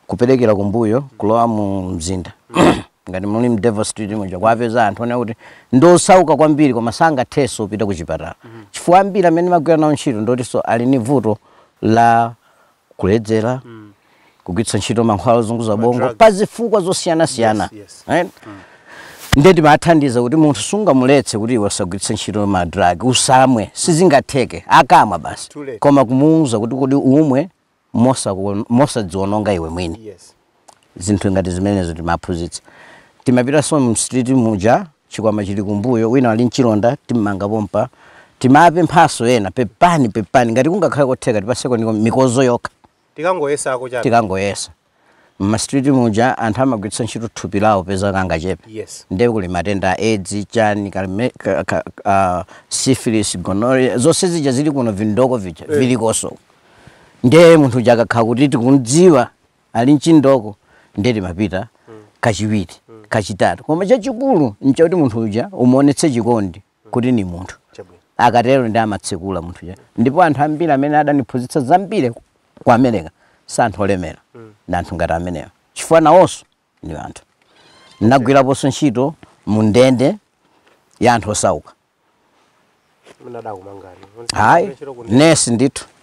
kuberekera kumbuyo kulowa mu mzinda ngati muli mu Devil Street muja kuwapeza anthu onena kuti ndi osauka kwambiri koma sangathenso kupita ku chipatala chifukwa ambiri amene timagwira nawo ntchito ndi otinso ali ni vuto la kuledzera kugwiritsa ntchito mankhwala ozunguza bongo Madrugs. pa zifukwa zosiyanasiyana Yes, yes. right? ndiye timathandiza kuti munthu sungamuletse kuti iwe usagwiritse ntchito madrugs usamwe sizingatheke akamwa basi Too late. koma kumuwuza kuti kodi umwe mosaku mosadziwononga iwe mwini Yes. zinthu ngati zimenezo timaphunzitsa timapitanso mu street muja chikwama chili kumbuyo wina ali nchilonda timmanga pompa timapemphanso ena pepani pepani ngati kungakhale kotheka tipatseko niko- mikozo yokha Tikangoyesako chabe. tikangoyesa mma street muja anthu amagwiritsa ntchito thupi lawo popeza kangachepe Yes. nde kuli matenda a edzi chani kalime- ka- ka- ah, syphilis gonorrhea zonse zija zili kuno vindoko vija viliko nso nde munthu uja akakhala kuti tikumdziwa ali nchindoko nde timapita kachiwiri kachitatu koma chachikulu nchakuti munthu uja umuonetse chikondi kuti ndi munthu Chabwino. akatero nde amatsekula munthu uja ndipo anthu ambiri amene adandiphunzitsa zambiri ku america si anthu olemera ndi anthu ngati amenewa chifukwa nawonso ndi anthu ndinagwiraponso ntchito mu ndende ya anthu osauka Munali atakumangani. hayi nesi ndithu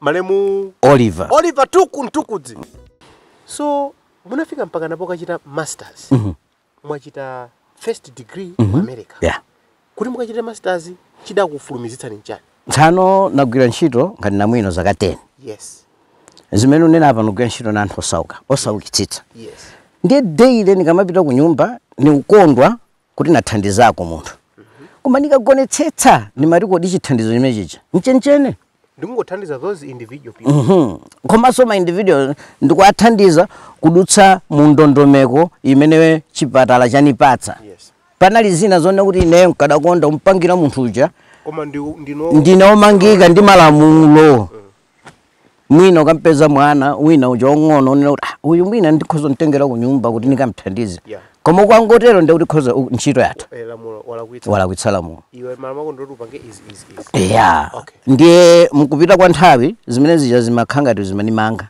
malemu Oliver. Oliver Tuku Mtukudzi. So munafika mpakana pokachita masters. Mm -hmm. Mwachita first degree mm -hmm. mu mhm. America. Yeah. Kuti mukachite masters chidakufulumizitsani nchani? Tsano nagwira ntchito ngati namwino zaka 10. Yes. Zimene ndanena apa nagwira ntchito na anthu osauka, osaukitsitsa. Yes. Ndiye daily nikamapita ku nyumba nikukondwa kuti nathandizako munthu koma ndikaonetsetsa ndimati kodi chithandizo chimenechi ndi chenicheni ndikungothandiza those individual people Mhm. komanso ma individual ndikuwathandiza kudutsa mu ndondomeko imene chipatala chanipatsa yes panali zina zonena kuti ineyo nkadakonda kumpangira munthu uja koma ndi ndino ndine omangika ndi malamulo mwina ukampeza mwana wina uja wamng'ono unena kuti "Ah, uyu mwina ndikhoza kumtengera kunyumba kuti ndikamthandize Yeah. koma ukangotero nde kuti khoza u- ntchito yathu Eh, lamulo walakwitsa walakwitsa lamulo iwe mara mako ndoti upange izi izi izi ya Okay. ndiye mkupita kwa nthawi zimene zija zimakhala ngati zimandimanga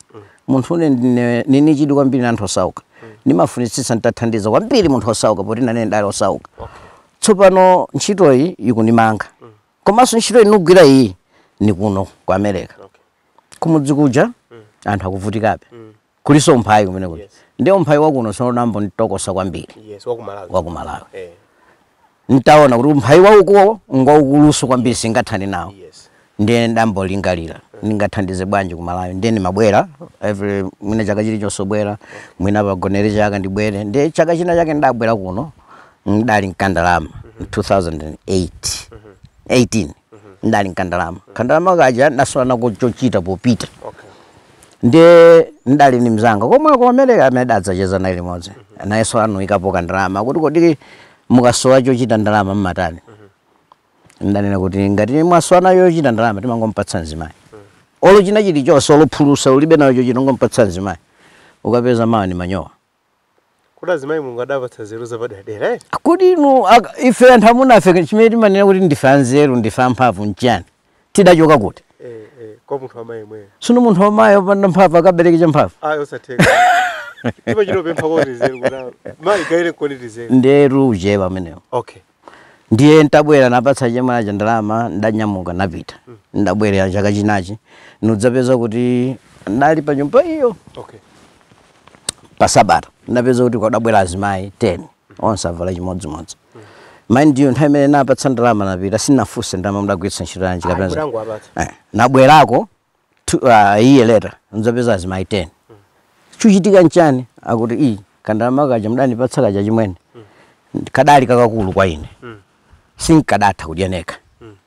munthu ine ndine- nini chidwi kwambiri na anthu osauka ndimafunitsitsa nditathandiza kwambiri munthu wosauka poti nane ndali wosauka okay tsopano ntchitoyi ikundimanga komanso ntchito ndikugwira iyi ni kuno ku america okay. kumudzi kuja mm. anthu akuvutikabe mm. kulinso umphawi kumene kuti yes. ndi umphawi wakuno sonambo nitokosa kwambiri yes, wakumalawi hey. Eh. ntaona kuti umphawi wakuwo ngwaukulunso kwambiri singathani nawo yes. ndiye ndayamba kulingalira mm. ndingathandize bwanji kumalawi ndiye ndimabwera every mwina chaka chili chonse ndibwera mwina pagonere chaka ndibwere ndiye chaka china chake ndabwera kuno ndali n'kandalama mu 2008 18 ndali n'kandalama kandalama kaja ndasowa nako chochita popita okay ndi ndali ni mzanga komwe komere amene adzacheza naye limodzi nayenso anaikapo kandalama kuti kodi mukasowa chochita ndalama mmatani ndanena kuti ngati mwasowa nayo yochita ndalama timangompatsa mzimayi olo china chilichonse olo phulusa ulibe nayo chochita ngompatsa mzimayi ukampeza mawa ni manyowa Kodi azimayi Mulungu adawapatsa nzeru zapaderadera eti? Kodi inu ife anthu amuna ife chimene timanena kuti ndife anzeru ndife amphamvu n'chiyani? Tidachoka kuti? Eh, eh, kwa munthu wamayi yemweyo. Tsono munthu wamayi wopanda mphamvu akabereke champhamvu? Ayi osatheka. Ndipo chino pempha kwa tizeru kuti mayi gaire koni tizeru. Nzeru uchewa umenewo. Okay. ndiye ntabwera napatsa chemwali aja ndalama ndanyamuka napita ndabwerera chaka chinacho ndidzapeza kuti ndali pa nyumba iyo okay pa sabata ndapeza kuti kwadabwera azimayi 10 onse avala chimodzimodzi mind you nthawi imene napatsa ndalama napita sinafunse ndalama mudagwiritsa ntchito yanji kapena za- Ayi, ndidangowapatsa. Eh, nabwerako two, uh, a year later ndzapeza azimayi 10 chuchitika nchani akuti ii kandalama kaja mudanipatsa kaja achimwene kadali kakakulu kwa ine sinkadatha kudya nekha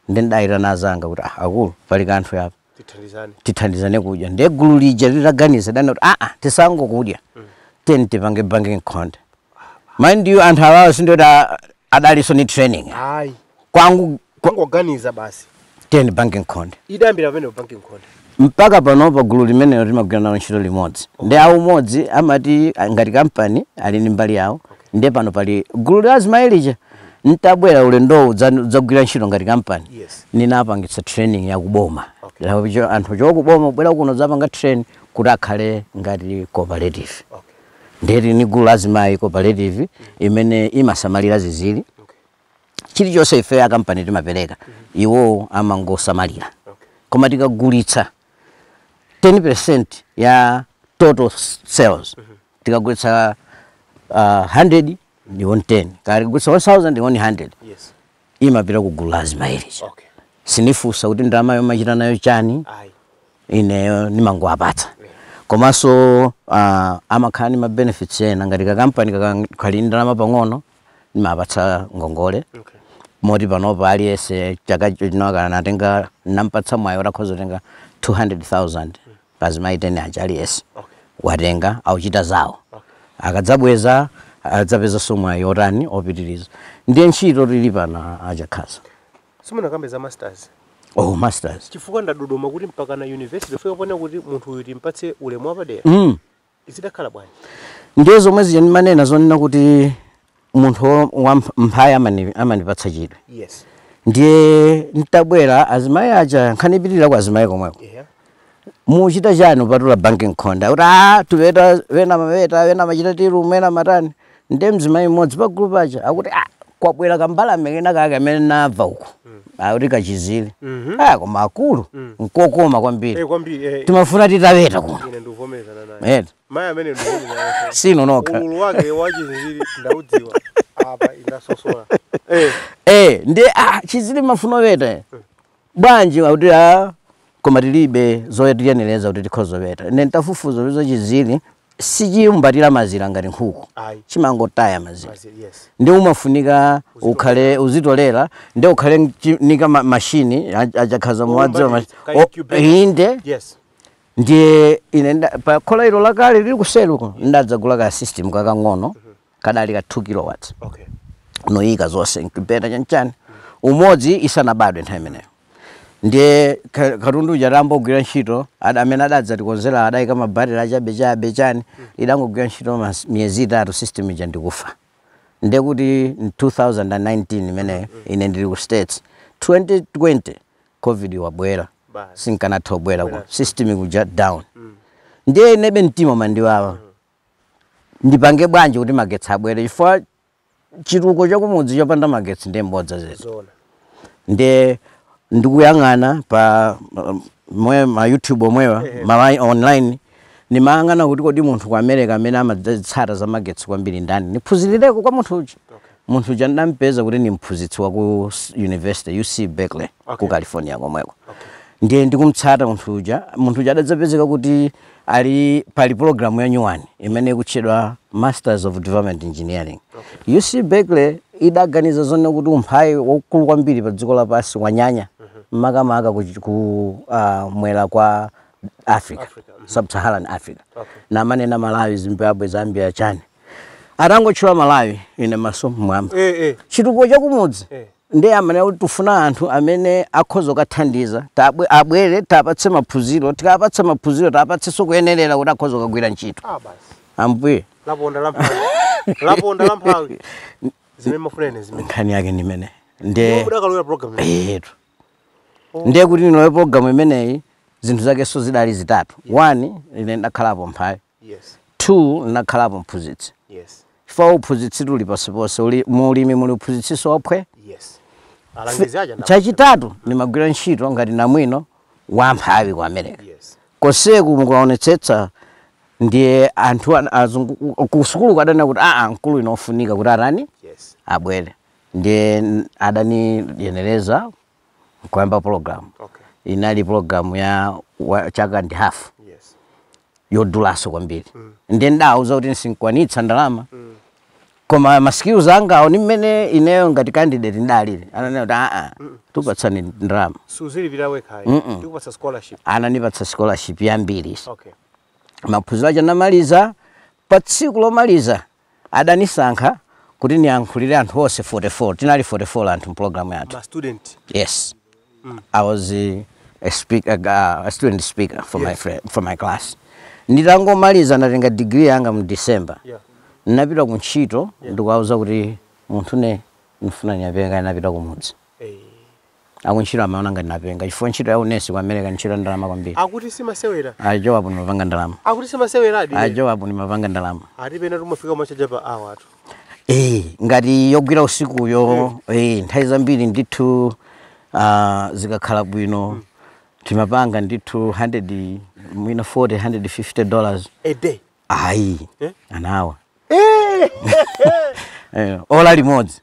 ndiye ndidayitana anzanga kuti ah, akuluakulu pali kanthu apa tithandizane tithandizane kudya ndiye gulu lija litaganiza adanena kuti aa tisangokudya tiyeni tipange banki nkhonde mind you anthu awawa si ndoti adalinso ndi training ayi kwangokha- kungoganiza basi tiyeni bank nkhonde idayambira pamenepo banki nkhonde mpaka pano pa gulu limenelo timagwira nalo ntchito limodzi ndi a Umodzi amati ah, ngati kampani ali ndi mbali yawo ndiye pano pali gulu la azimayi lija ntabwera ulendowu kudzagwira ntchito ngati kampani Yes. ninapangitsa training ya kuboma Okay. Lawo cho- anthu ochoka kuboma kubwera kuno kudzapanga train kuti akhale ngati cooperative okay ndiye tili ni gulu la azimayi la cooperative imene imasamalira zinziri chilichonse ife a kampani timapereka iwowo amangosamalira koma tikagulitsa 10% ya total s- sales tikagulitsa uh, 100 ndi iwo 10 kaya tikagulitsa 1000 ndi iwo 100 Yes. imapita ku gulu la azimayi lija Okay. sindifunsa kuti ndalamayo mwachita nayo chani Ayi. ineyo ndimangowapatsa komanso uh, amakhala ndi ma benefits ena ngati kakampani kaka- kali ndi ndalama pang'ono ndimawapatsa ngongole Okay. moti panopo aliyense chaka chino akanatenga, nampatsa mwayi kuti akhoza kutenga 200000 azimayi 10 aja aliyense watenga akuchita zawo akadzabweza adzapezanso mwayi wotani wopitiriza ndiye ntchito tili pano a Chakhaza simunakambe za masters oh masters chifukwa ndadodoma kuti mpaka na university ifike poona kuti munthu uyu timpatse ulemu wapadera mm. Zidakhala bwanji? Ndiye zomwe zija ndimanena zonena kuti munthu wo- wa mph- mphawi amani- amandipatsa chidwi Yes. ndiye ntabwera azimayi aja nkhani ikupitirira kwa azimayi komweko Yeah. mukuchita chani kupatula banki nkhonde kuti a tikuweta ena amaweta ena amachita zimene ena amatani nde mzimayi mmodzi pa gulu paja akuti ah kwabwera kambalame kena kake amene ndamva uku akuti kachinziri Mhm. ah koma akulu Mm. nkokoma kwambiri Eh, kwambiri eh, timafuna titaweta kuno ine ndikuvomerezana naye eti mayi amene ndikuvomerezana si inu nokha ukulu wake wa chinziri ndaudziwa apa ndinasosola eh eh ndi ah chinziri mufuna kuweta bwanji akuti a koma tilibe zotiyenereza kuti tikhoza kuweta ine ntafufuza kuti chinziri sichikumbatira mazira ngati nkhuku Ayi. chimangotaya mazira Mazira, yes. ndiye umafunika ukhale uzitolera ndiye ukhale nchi- nika ma- mashini a- a Chakhaza mukuwadziwa Omba mashi- ndi- ka o- incubator. inde yes ndiye ine nda- pa khola ilo lakale lili kuseluko ndidadzagula ka system kakang'ono kadali ka 2 kilowatts okay. nkuyika zonse incubator chanchani umodzi usanabadwe nthawi imeneyo ndiye katundu uja adambogwira ntchito amene adadzatikonzera adayika mabatiri achabe chabe chani mm. idangogwira ntchito miyezi itatu system ija nkufa ndiye kuti 2019 imeneyo mm. ine ndili ku states 2020 covid wabwera sinkanatha kubwera ka system kaja down mm. ndiye inebe mtima umandiwawa ndipange bwanji kuti magetsi abwere chifukwa chitukuko chakumudzi chopanda magetsi ndiye mbodza zedi zoona ndiye ndikuyang'ana pa um, mwe ma youtube omwewa malawi online ndimayang'ana kuti kodi munthu ku america amene amazitsata za magetsi kwambiri ndani ndiphunzirireko kwa munthu uja Munthu uja ndidamupeza kuti ndi mphunzitsi wa ku s- university UC Berkeley ku Okay. California komweko. Okay. Ndiye ndikumutsata munthu uja, munthu uja adadzapezeka kuti ali pali program ya nyuwani imene ikutchedwa Masters of Development Engineering. UC Berkeley idaganiza zonena kuti umphawi waukulu kwambiri pa dziko lapansi wanyanya makamaka ku, ku uh, mwera kwa Africa, Africa, mhm. Sub-Saharan Africa. Okay. Namanena Malawi, Zimbabwe, Zambia, chani. atangotchula malawi ine maso mmwamba eh, eh. chitukuko chakumudzi eh. ndiye amanena kuti tifuna anthu amene akhoza kukathandiza Tabwe- abwere tapatse maphunziro tikapatsa maphunziro tapatsenso kuyenerera kuti akhoza kukagwira ntchito ah, basi ambuye laponda lamphawi laponda lamphawi zimene mmafuna ine zimene nkhani yake ndi imene iyo nde mudakalowera program imeneyi. eyetu ndiye kuti ndilowe programu imeneyi zinthu zakenso zidali zitatu one ine ndakhalapo mphawi Yes. 2 ndinakhalapo mphunzitsi Yes. chifukwa uphunzitsitu uli ponseponse mu ulimi muli uphunzitsinso waphwe Yes. Alangizi aja ndawo. chachitatu ndimagwira ntchito ngati namwino wa mphawi ku america Yes. konseku ukaonetsetsa ndiye anthu an- azungu ku- ku sukulu kuja adanena kuti aa mkulu uyu ofunika kuti atani Yes. abwere ndiye n- adaniyenereza nkuyamba program okay inali program ya wa, chaka ndi half yes yodulaso kwambiri mm. nde ndidauza kuti sindikwanitsa ndalama mm. koma ma skills anga awo ni mmene ineyo ngati candidate ndinalili ananena kuti aa tupatsani ndalama suzilipira wekhayi tikupatsa scholarship ananipatsa scholarship yambiri okay maphunziro aja namaliza pa tsiku lomaliza Adanisankha kuti niyankhulile anthu onse 44. Tinali 44 anthu m'pulogalamu yathu. Ma student? Yes. I was a speaker, a student speaker for my Yes. fri- for my class. Nditangomaliza ndinatenga degree yanga mu December. Yeah. Ndinapita ku ntchito ndikuwauza kuti munthune ndafuna nitapenga ndapita kumudzi. Eh. Akuntchito amaona ngati napenga chifukwa ntchito ya unesi ku America ndi ntchito ya ndalama kwambiri. Akuti simasewera. A Joab ndimapanga ndalama. Akuti simaseweradi. A Joab ndimapanga ndalama. Ati pena tumafika kumachaja pa hour tu. Eh, ngati yogwira usikuyo eh, nthawi zambiri ndithu ah, zikakhala bwino timapanga ndithu 100 mwina 40 150 dollars A day. ayi Eh? an hour Eh. Eh, ola limodzi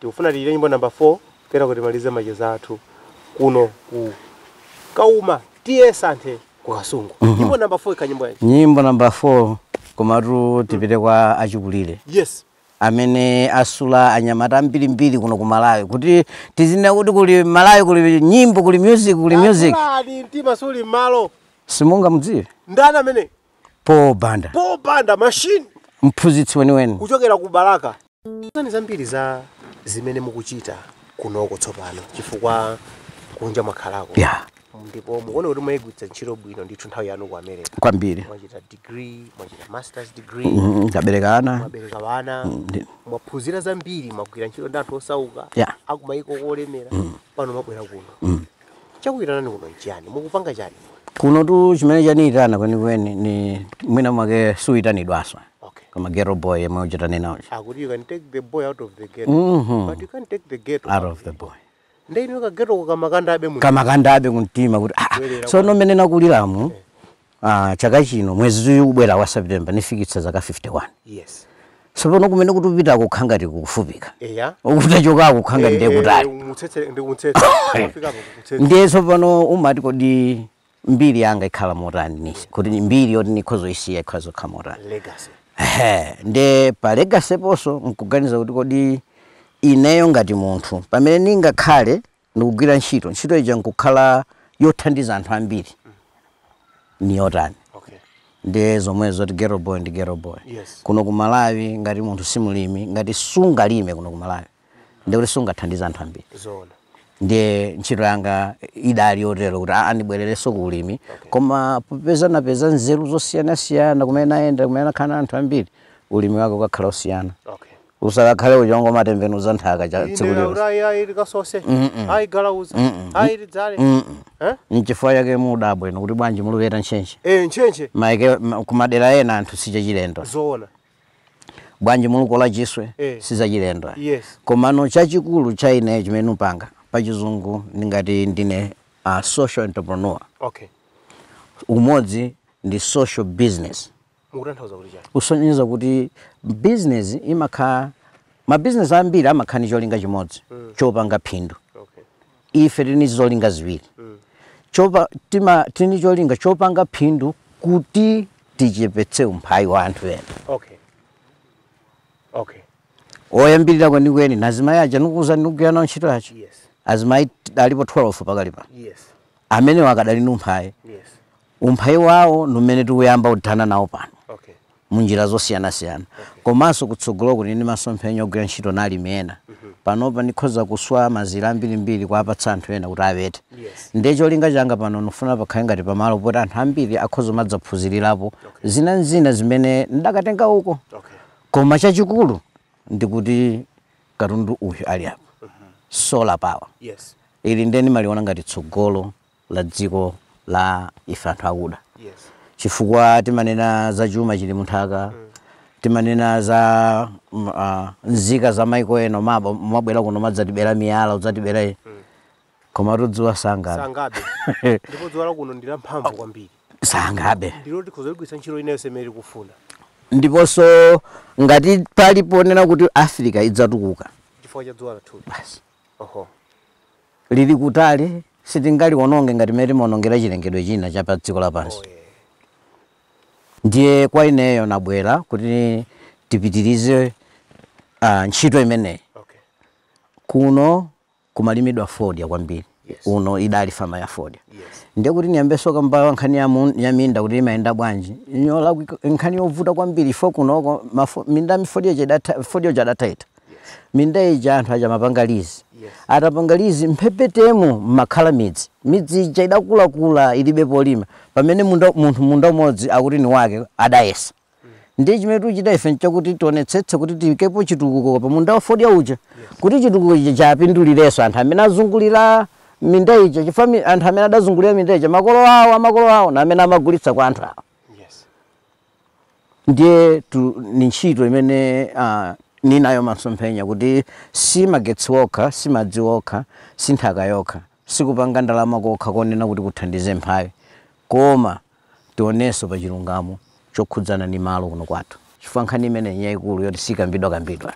Tikufuna timve nyimbo number 4 kenako timalize macheza athu kuno ku Kauma TA Santhe ku Kasungu. Mm -hmm. Nyimbo number 4 ikhala nyimbo yanji. Nyimbo number 4 komatu tipite mm. kwa achikulire. Yes amene asula anyamata ambirimbiri kuno ku Malawi kuti tizinena kuti kuli Malawi kuli nyimbo kuli music kuli music. Mtima suli malo. Simungamdziwe. Ndana mene. Paul Banda. Paul Banda machine. Mphunzitsi weniweni. Kuchokera ku Balaka. Tiuzeni zambiri za zimene mukuchita kunoko tsopano chifukwa kunja mwakhalako. Yeah. Ndipo mukuona kuti mwayigwiritsa ntchito bwino ndithu nthawi yanu ku America. Kwambiri. Mwachita degree, mwachita masters degree. Mm, mm nabereka ana. Mwabereka ana. Mm, mwaphunzira zambiri, mwagwira ntchito ndi anthu osauka. Yeah. Akumayiko olemera. Mm. Pano mwabwera kuno. Mm. Chakuyitanani kuno nchiyani? Mukupanga chani kuno? Kuno tu chimene chaniyitana kwenikweni ni mwina mwake sikuyitanidwaso Okay. koma ghetto boy amachita kunena kuti Akuti you can take the boy out of the ghetto. Mhm. But you can't take the ghetto. out of the boy Nde inu ka ghetto ko kamakandabe kumtima. kamakandabe kumtima kuti ah, Bwerera sono mmene nakulilamu Ah, chaka chino mwezi uyu ubwera wa September nifikitsa zaka 51. Yes. Sopano kumene tikupita kukukhala ngati kukufupika. Eya. Uku tachoka kukukhala ngati ndiye kutali. Eh, Mutsetse ndi kumtsetse. Kufika apo kumtsetse. Ndiye sopano umati kodi mbiri yanga ikhala motani ndiye kuti ni mbiri yoti nikhoza isiya ikhoza khala motani. Legacy. Ehe, nde pa legacy ponso nkuganiza kuti kodi ineyo ngati munthu pamene ningakhale ndikugwira ntchito ntchito ija nkukhala yothandiza anthu ambiri ni yotani okay ndiye zomwe zoti ghetto boy ndi ghetto boy Yes. kuno ku malawi ngati munthu si mlimi ngati sungalime kuno ku malawi nde kuti sungathandize anthu ambiri zoona ndiye ntchito yanga idali yotero kuti aa ndibwererenso ku ulimi koma popeza napeza nzeru zosiyanasiyana kumene nayenda kumene nakhala na anthu ambiri ulimi wake ukakhale osiyana okay Usakakhale uja ongomatembenuza nthaka za tsiku Inde, lilonse. ayi ayi tikasose Mm-mm. ayi tigalauze Mm-mm. ayi tidzale Mm-mm. Eh? Nchifukwa chake mudabwa inu kuti bwanji mukuweta ntchentche. Eh, ntchentche Maiko ma- kumadera ena anthu sichachilendo. zoona Bwanji mukukola chiswe Eh. sizachilendo. yes Komano chachikulu cha ineyo chimene nikupanga pachizungu ndingati ndine a social entrepreneur. okay Imeneyi ndi social business. mukutanthauza kuti chani kusonyeza kuti business imakha ma business ambiri amakha ndi cholinga chimodzi mm. chopanga phindu okay. ife tili ni zolinga ziwiri mm. chopa tima tili ni cholinga chopanga phindu kuti tichepetse umphawi wa anthu ena okay okay oyambirira kwenikweni nazimayi aja nikuuza ndikugwira nawo ntchito aja yes. azimayi alipo 12 pakali pano yes. amenewo akadali mu umphawi yes. Umphawi wawo ndi umene tikuyamba kuthana nawo pano mu njira zosiyanasiyana komanso kutsogoloku tili ndi masomphenya ogwira ntchito na alimi ena. Panopa ndikhoza kuswa mazira ambirimbiri kuwapatsa anthu ena kuti awete. Ndiye cholinga changa pano ndikufuna pakhale ngati pamalo poti anthu ambiri akhoza kumadzaphunzirirapo zina n'zina zimene ndidakatenga uko. Koma chachikulu ndi kuti katundu uyu ali apa, solar power, ili ndi ine ndimaliona ngati tsogolo la dziko la ife anthu akuda yes chifukwa timanena za chuma chili munthaka timanena za mm, ah, nzika za maiko ena maba mwabwera kuno madzatibera miyala udzatibera iyi. koma dzuwa sangabe sangabe ndipo dzuwa lakuno ndi lamphamvu kwambiri sangabe ndilo tikhoza ligwiritsa ntchito ina yonse imene tikufuna ndiponso ngati pali ponena kuti africa idzatukuka chifukwa cha dzuwa lathuli basi Oho. Lili kutali, sitingaliwononge ngati mmene timawonongera chilengedwe china cha pa dziko lapansi. Oh, yeah. Ndiye kwa ineyo nabwera kuti tipitirize uh, ntchito imeneyi. Okay. Kuno kumalimidwa fodya kwambiri. Yes. Uno idali fama ya fodya. Yes. Ndiye kuti niyambenso kamba nkhani ya, mun, ya minda kuti imayenda bwanji. Ndi nkhani yovuta kwambiri ife kunoko minda ya fodya fodya tidataya. minda ija anthu aja amapanga lizi atapanga lizi mphepetemo mmakhala midzi midzi ija idakulakula ilibe polima pamene munda, munthu munda umodzi akuti ni wake adayesa ndiye chimene tichita ife nchakuti tionetsetse kuti tiyikepo chitukuko pa munda wafodya uja kuti chitukuko chija chapindulirenso anthu amene azungulira minda ija chifukwa mi- anthu amene adazungulira minda ija makolo awo amakolo awo ndi amene amagulitsa kwa anthu awo ndiye tu- ni ntchito imene uh, ninayo masomphenya kuti si magetsi okha si madzi okha si nthaka yokha sikupanga ndalama kokha konena kuti tithandize amphawi koma tionenso pa chilungamo chokhudzana ni malo kuno kwathu chifukwa nkhani imeneyi njaikulu yoti sikambidwa kambidwa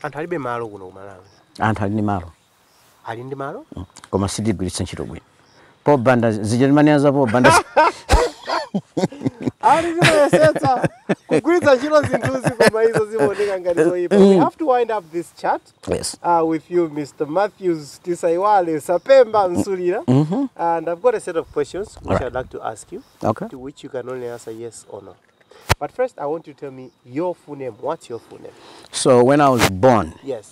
anthu alibe malo kuno ku malawi anthu ali ni malo ali ndi malo koma sitigwiritsa ntchito bwino pobanda zija timanena za pobanda ali zimayesetsa kugwiritsa ntchito zinthuzi koma izo zimaoneka ngati zoyipa we have to wind up this chat yes uh, with you mr mathews tisaiwale sapemba nsulira and i've got a set of questions which Alright. i'd like to ask you okay to which you can only answer yes or no but first i want you to tell me your full name what's your full name so when i was born yes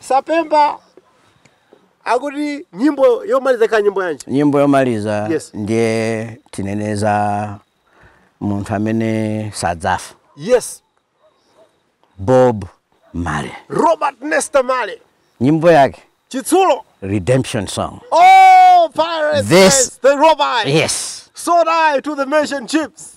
Sapemba akuti nyimbo yomaliza ikhala nyimbo yanji? Nyimbo yomaliza Yes. ndiye tinene za munthu amene sadzafa Yes. Bob Marley. Robert Nesta Marley. Nyimbo yake Chitsulo. Redemption Song. Oh, pirates. This- yes, they rob I. Yes. Sold I to the merchant ships.